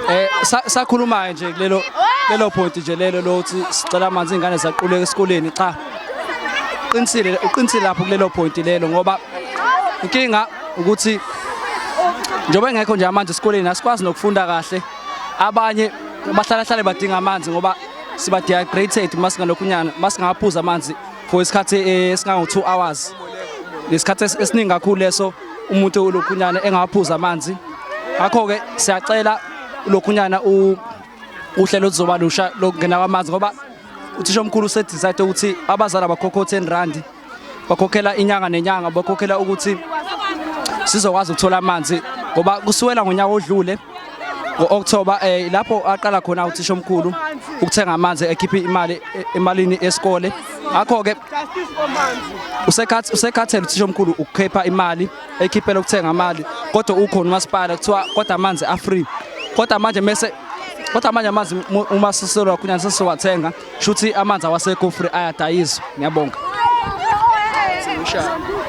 Eh sakhuluma nje kulelo lelo point nje lelo lothi sicela amanzi ingane zaquleka esikoleni cha uqinisile uqinisile lapho kulelo point lelo ngoba inkinga ukuthi njengoba engekho nje amanzi esikoleni asikwazi nokufunda kahle abanye bahlala hlale badinga amanzi ngoba siba dehydrated masingalokhunyana masingaphuza amanzi for isikhathi eh, esingango 2 hours lesikhathi esiningi kakhulu leso umuntu ulokhunyana engaphuza amanzi ngakho ke siyacela lokhunyana u uhlelo lizoba lusha lokungena kwamanzi ngoba uthisha omkhulu usedecide ukuthi abazali abakhokho 10 rand bakhokhela inyanga nenyanga bakhokhela ukuthi sizokwazi ukuthola amanzi ngoba kusuwela ngonyaka odlule ngo-October eh lapho aqala khona uthisha omkhulu ukuthenga amanzi ekhipha imali e, emalini esikole akho ke usekhathi usekhathele uthisha omkhulu ukukhipha imali ekhiphela ukuthenga amali kodwa ukhona umasipala kuthiwa kodwa amanzi a free kodwa manje mese kodwa manje amanzi uma siselwa kunyana sesiwathenga shuthi amanzi awasekufri ayadayiswa ngiyabonga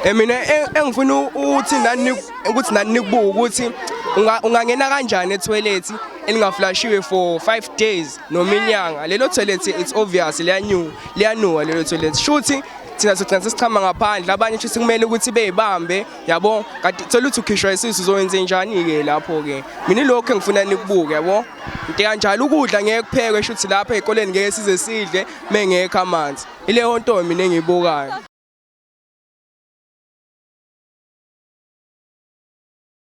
eh, mina eh, engifuna ukuthi nani ukuthi nani nikubuka ukuthi ungangena kanjani etoilet elingaflashiwe for 5 days noma inyanga lelo toilet it's obvious liyanyu liyanuwa lelo toilet shuthi thina sigcina sesichama ngaphandle abanye shuthi kumele ukuthi beyibambe yabo kanti thola ukuthi ukhishwa isisu uzowenze njani ke lapho ke mina lokho engifuna nikubuke yabo into kanjalo ukudla ngeke kuphekwe shuthi lapha ezikoleni ngeke size sidle mengekho amanzi ileyo nto mina engiyibukayo